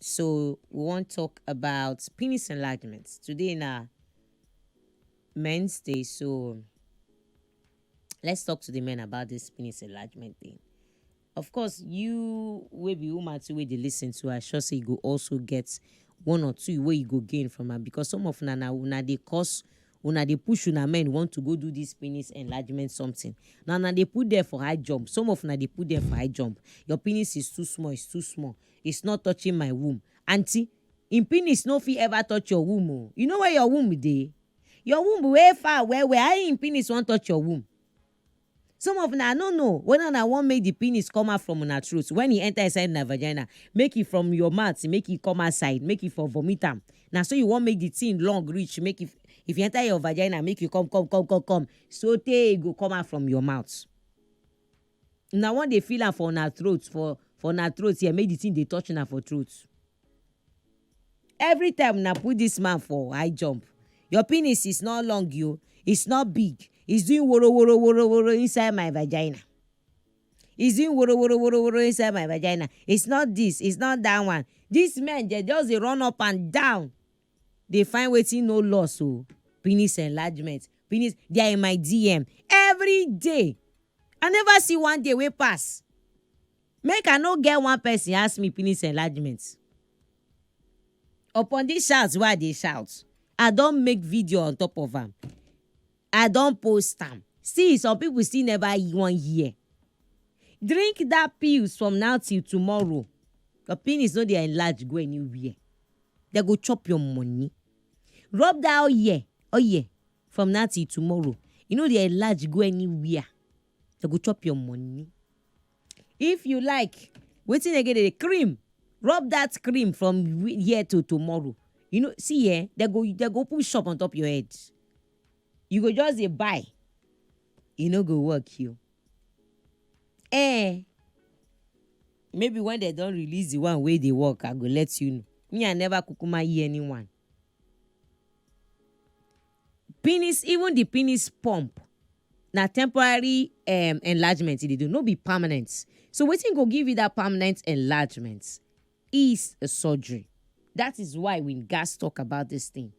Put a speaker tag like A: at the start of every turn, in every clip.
A: So we wan talk about penis enlargement. Today na men's day so let's talk to the men about this penis enlargement thing. Of course you wey be woman too wey dey lis ten to I sure say you go also get one or two wey you go gain from am because some of una na una dey cause una dey push una men want to go do this penis enlargement something na una dey put there for high jump some of una dey put there for high jump your penis is too small is too small is not touching my womb aunty him penis no fit ever touch your womb o you know where your womb dey your womb wey far well well how him penis want touch your womb Some of una no know weda una wan make di penis come out from una throat wen e enter inside una vagina, make e from your mouth make e come outside make e for vomit am, na so you wan make di thing long reach make e if e enter your vagina make e come come come come come so tey e go come out from your mouth. Una wan dey feel am for una throat for for una throat here make di thing dey touch una for throat. Every time una put this man for high jump, your penis is not long yo, it's not big, it's doing woro woro woro woro inside my vagina. It's doing woro woro woro woro inside my vagina. It's not this, it's not that one. This men they just dey run up and down. They find wetin no loss o. Penis enlargement, penis they are in my DM every day. I never see one day wey pass. Make I no get one person ask me penis enlargement. Upon this shout wey I dey shout, I don make video on top of am. I don post am. See, some people still never wan hear. Drink that pills from now till tomorrow. Your penis no dey enlarge go anywhere. They go chop your money. Rub that oil, oil from now till tomorrow. You no dey enlarge go anywhere. They go chop your money. If you like, wetin again dey cream, rub that cream from here to tomorrow. You know, see eh, they go they go open shop on top your head. You go just dey buy, e no go work you. Eh, maybe when they don release the one wey dey work, I go let you know. Me, I never kukuma hear anyone. Penis even the penis pump na temporary um, enlargement e dey do, no be permanent. So wetin go give you that permanent enlargement is a surgery. That is why we gats talk about this thing.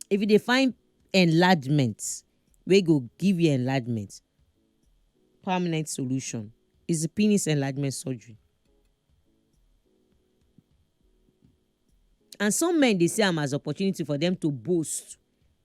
A: If you dey find enlargement wey go give you enlargement, permanent solution is the penis enlargement surgery. And some men dey see am as opportunity for them to boast.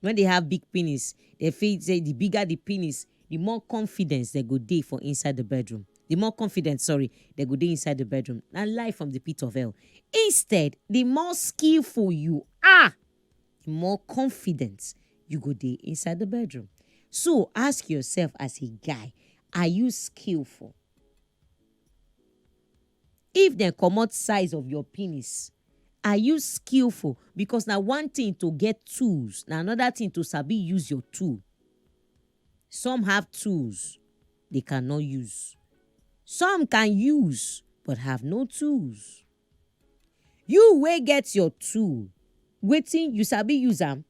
A: When they have big penis, they feel say the bigger the penis, the more confidence they go dey for inside the bedroom. The more confidence, sorry, they go dey inside the bedroom. Na lie from the pit of hell. Instead, the more skillful you are, the more confidence you go dey inside the bedroom. So ask yourself as a guy, are you skillful? If dem comot size of your penis, are you skillful because na one thing to get tools na another thing to sabi use your tool. Some have tools they cannot use. Some can use but have no tools. You wey get your tool, wetin you sabi use am?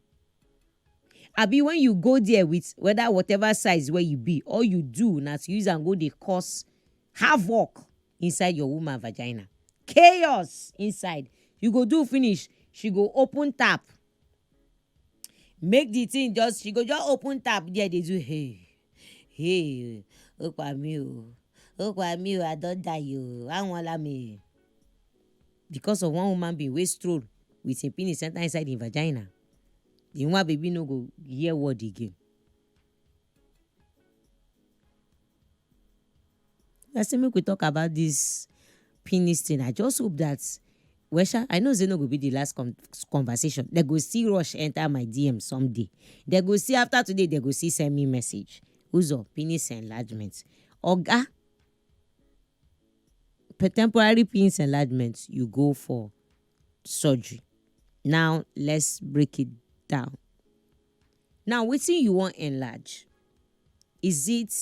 A: Abi when you go there with whether whatever size wey you be, all you do na to use am go dey cause havoc inside your woman vagina chaos inside you go do finish she go open tap make the thing just she go just open tap there dey do hey hey ó pa mí o ó pa mí o i don die o àwọn ọlá mi because of one woman being wey stroll with him penis enter inside him vagina the woman baby no go hear word again I say make we talk about this penis thing. I just hope that well sha i know say no go be the last con conversation dem go still rush enter my dm someday dem go see after today dem go see send me message uzo penis enlargement oga temporary penis enlargement you go for surgery now let's break it down Now wetin you wan enlarge? Is it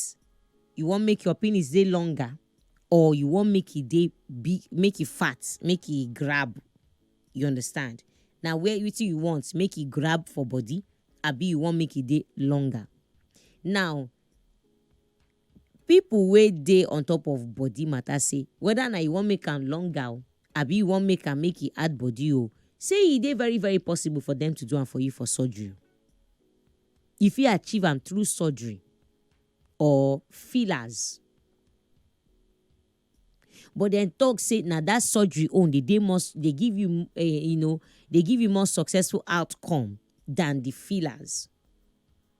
A: you wan make your penis dey longer or you wan make e dey big, make e fat, make e grab? You understand? Na where wetin you want make e grab for body abi you wan make e dey longer? Now People wey dey on top of body matter say whether na you wan make am longer o abi you wan make am make e add body o, say e dey very very possible for them to do am for you for surgery. You fit achieve am through surgery or fillers. But dem talk say na that surgery own dey dey more dey give you um you know dey give you more successful outcome than the fillers.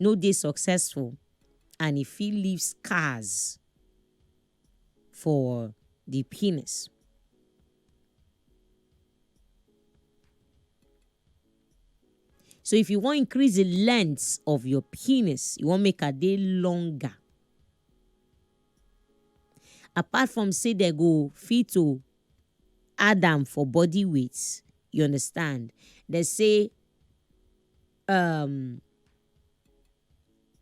A: no dey successful and e fit leave scars for the penis. So if you wan increase the length of your penis, you wan make am dey longer. Apart from say they go fit to add am for body weight, you understand? They say um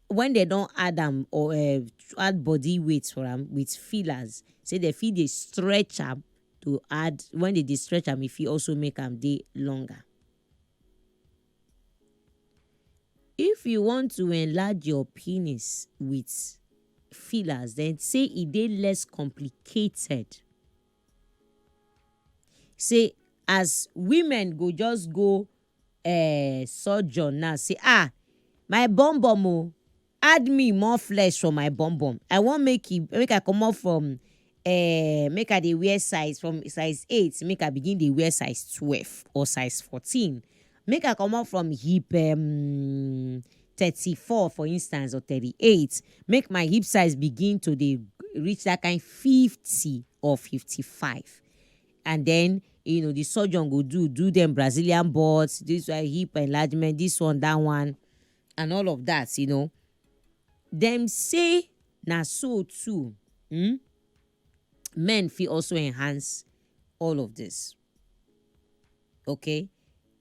A: when dem don add am or um add body weight for am with fillers say dem fit dey stretch am to add when dem dey stretch am e fit also make am dey longer. If you want to enlarge your penis with fillers then say e dey less complicated say as women go just go um surgeon now say ah my bum bum o add me more flesh for my bum bum i wan make e make i comot from um make i dey wear size from size eight make i begin dey wear size twelve or size fourteen make i comot from hip um thirty four for instance or thirty eight make my hip size begin to dey reach that kind fifty or fifty five and then you know the surgeon go do do them brazilian butts this one hip enlargement this one that one and all of that you know them say na so too hmm? men fit also enhance all of this okay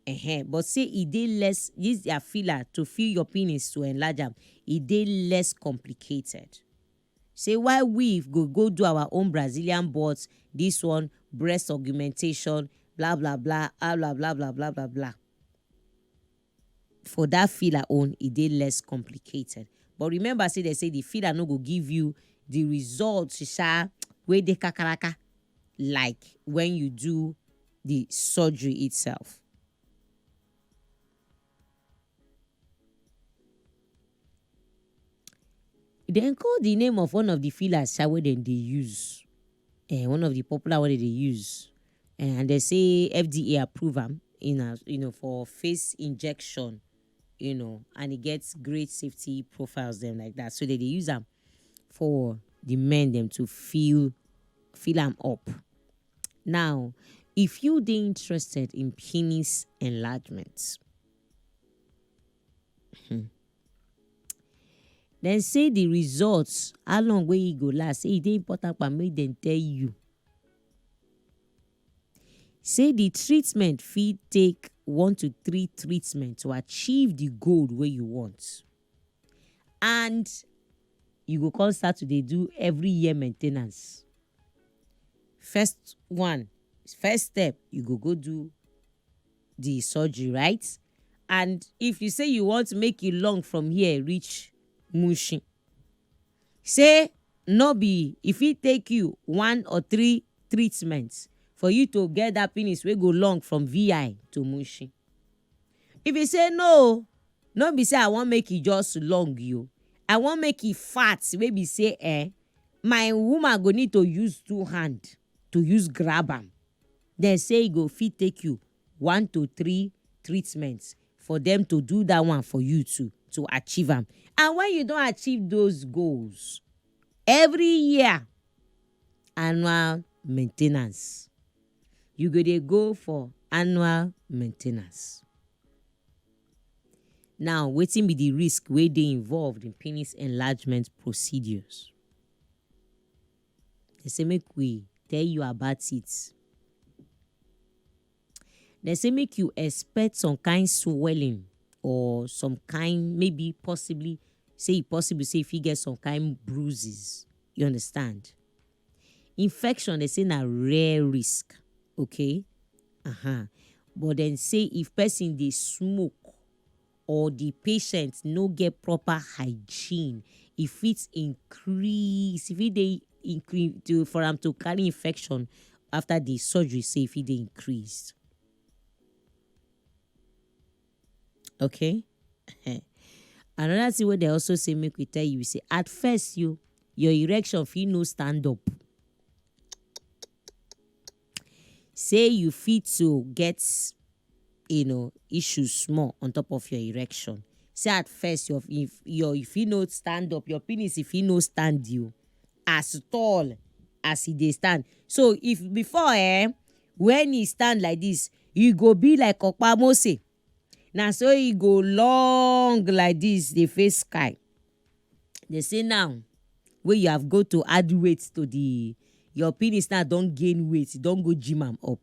A: uh-huh. but say e dey less use their filler to fill your penis to enlarge am e dey less complicated say why we go go do our own Brazilian butt this one breast augmentation blah blah blah ah blah blah blah blah blah blah. For that filler own, e dey less complicated. But remember say they say the filler no go give you the result sha wey dey kakaraka like when you do the surgery itself. Dem call the name of one of the fillers sha wey dem dey use, eh, one of the popular wey dem dey use, eh, and dem say FDA approve am in as you know for face injection, you know, and e get great safety profiles dem like that so dem dey use am for the men dem to fill fill am up. Now, if you dey interested in penis enlargement, hmm, dem say the results, how long wey e go last, say e dey important pa make dem tell you. Say the treatment fit take one to three treatment to achieve the goal wey you want. and you go come start to dey do every year maintenance first one first step you go go do the surgery right and if you say you want make e long from here reach mushin say no be e fit take you one or three treatments for you to get that penis wey go long from vi to mushin If e say no o, no be say I wan make e just long o, I wan make e fat wey be say eh, my woman go need to use two hand to use grab am. Dem say e go fit take you one to three treatments for dem to do that one for you too to achieve am. And when you don achieve those goals, every year annual maintenance. you go dey go for annual maintenance. Now wetin be the risk wey dey involved in penis enlargement procedures? They say make we tell you about it. They say make you expect some kind swelling or some kind maybe possibly say e possible say you fit get some kind bruises, you understand? Infection dem say na rare risk okay um but dem say if person dey smoke or the patient no get proper hygiene e fit increase e fit dey increase to for am to carry infection after the surgery say e fit dey increase. okay another thing wey dem also say make we tell you say at first you your erection fit no stand up say you fit to get you know issues small on top of your erection say at first your if your you fit no stand up your penis e fit no stand you. as tall as he dey stand. So if before eh, when he stand like this, he go be like Okpa Mose. Na so he go long like this dey face sky. They say now wey you have go to add weight to the your penis now don gain weight, you don go gym am up.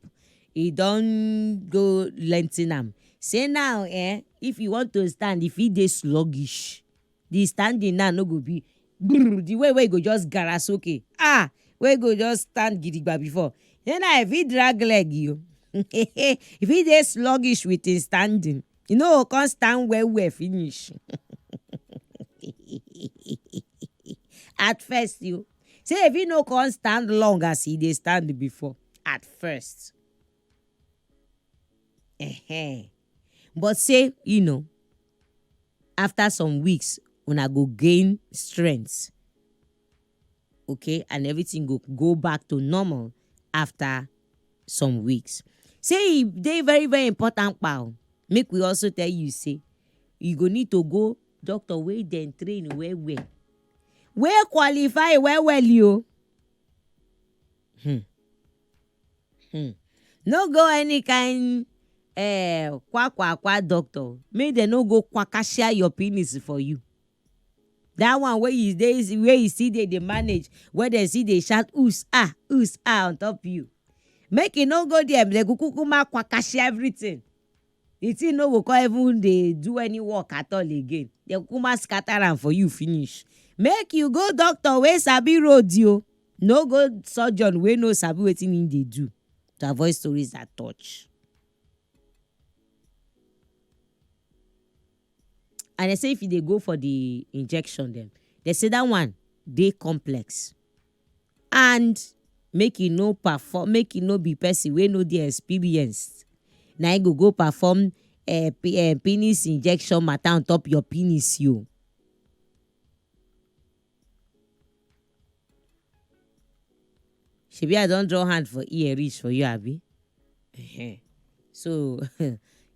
A: E don go lengthen am. Say now eh, if you want to stand, e fit dey sluggish. the standing now no go be brrr, the way wey you go just gara soke ah wey you go just stand gidigba before then now if he drag leg you if he dey sluggish with him standing you no go come stand well well finish at first you say if he no come stand long as he dey stand before at first Ehen. but say you know after some weeks una go gain strength okay and everything go go back to normal after some weeks say e dey very very important pal make we also tell you say you go need to go doctor wey dem train well well wey qualify well well yo. Hmm. Hmm. No go any kind eh, kwa kwa kwa doctor. Make dem no go kwakashia your penis for you. That one wey you dey wey you still dey dey manage, wey dem still dey shout us ah us ah on top you. Make you no go there, dem go kukuma kwakashia everything. The thing no go come even dey do any work at all again. Dem kukuma scatter am for you finish. Make you go doctor wey sabi road o. No go surgeon wey no sabi wetin im dey do to avoid stories that touch. And dem say if you dey go for the injection dem, dem say that one dey complex and make you no perform make you no be person wey no dey experienced na im go go perform um penis injection matter on top your penis o. shebi i don draw hand for ear reach for you abi Ehen. so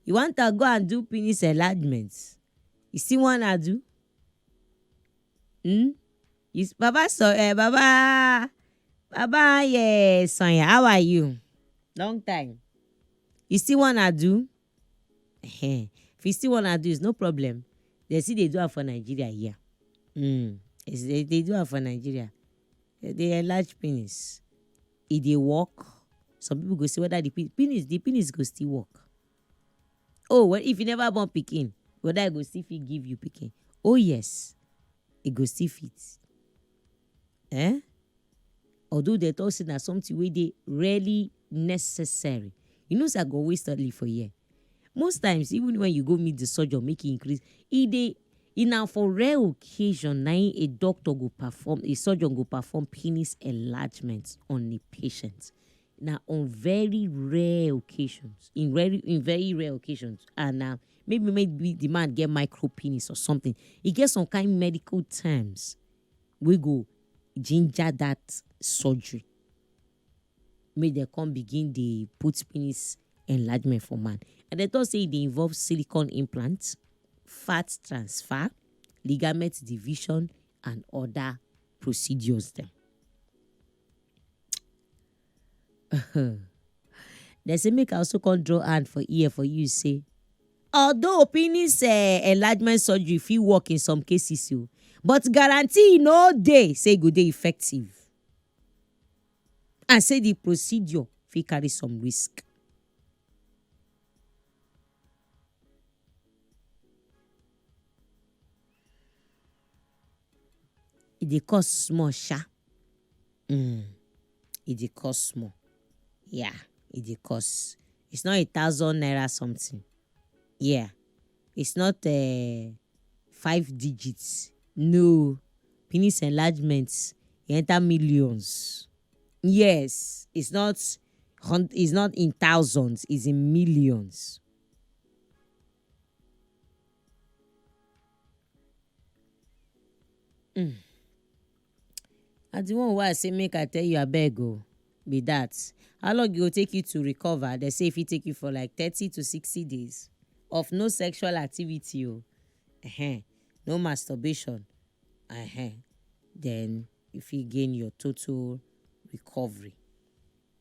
A: you wan to go and do penis enlargement you still wanna do hmm you s- baba so eh baba baba yeah sonya how are you long time you still wanna do Ehen. If you still wanna do is no problem. Dem still dey do am for Nigeria here. Mm. They dey do am for Nigeria. They dey enlarge penis. E dey work. Some people go say whether the penis the penis go still work. Oh well if you never born pikin whether e go still fit give you pikin. Oh yes, e go still fit. um although dem talk say na something wey dey really necessary you know say I go always tell you for here most times even when you go meet the surgeon make e increase e dey e na for rare occasion na im a doctor go perform a surgeon go perform penis enlargement on a patient na on very rare occasions in very in very rare occasions and na maybe maybe the man get micro penis or something e get some kind medical terms wey go ginger that surgery make dem come begin dey put penis enlargement for man and dem talk say e dey involve silicone implant, fat transfer, ligament division and other procedures dem. Dem say make I also come draw hand for ear for you say although penis um enlargement surgery fit work in some cases o but guarantee no dey say e go dey effective and say the procedure fit carry some risk. E dey cost small sha, um e dey cost small yeah e dey cost it's not a thousand naira something yeah it's not um five digit no penis enlargement e enter millions yes it's not hun it's not in thousand it's in millions. Mm. Na the one wey I say make I tell you abeg o be that. How long e go take you to recover? Dem say e fit take you for like thirty to sixty days of no sexual activity o, um no masturbation um then you fit gain your total recovery.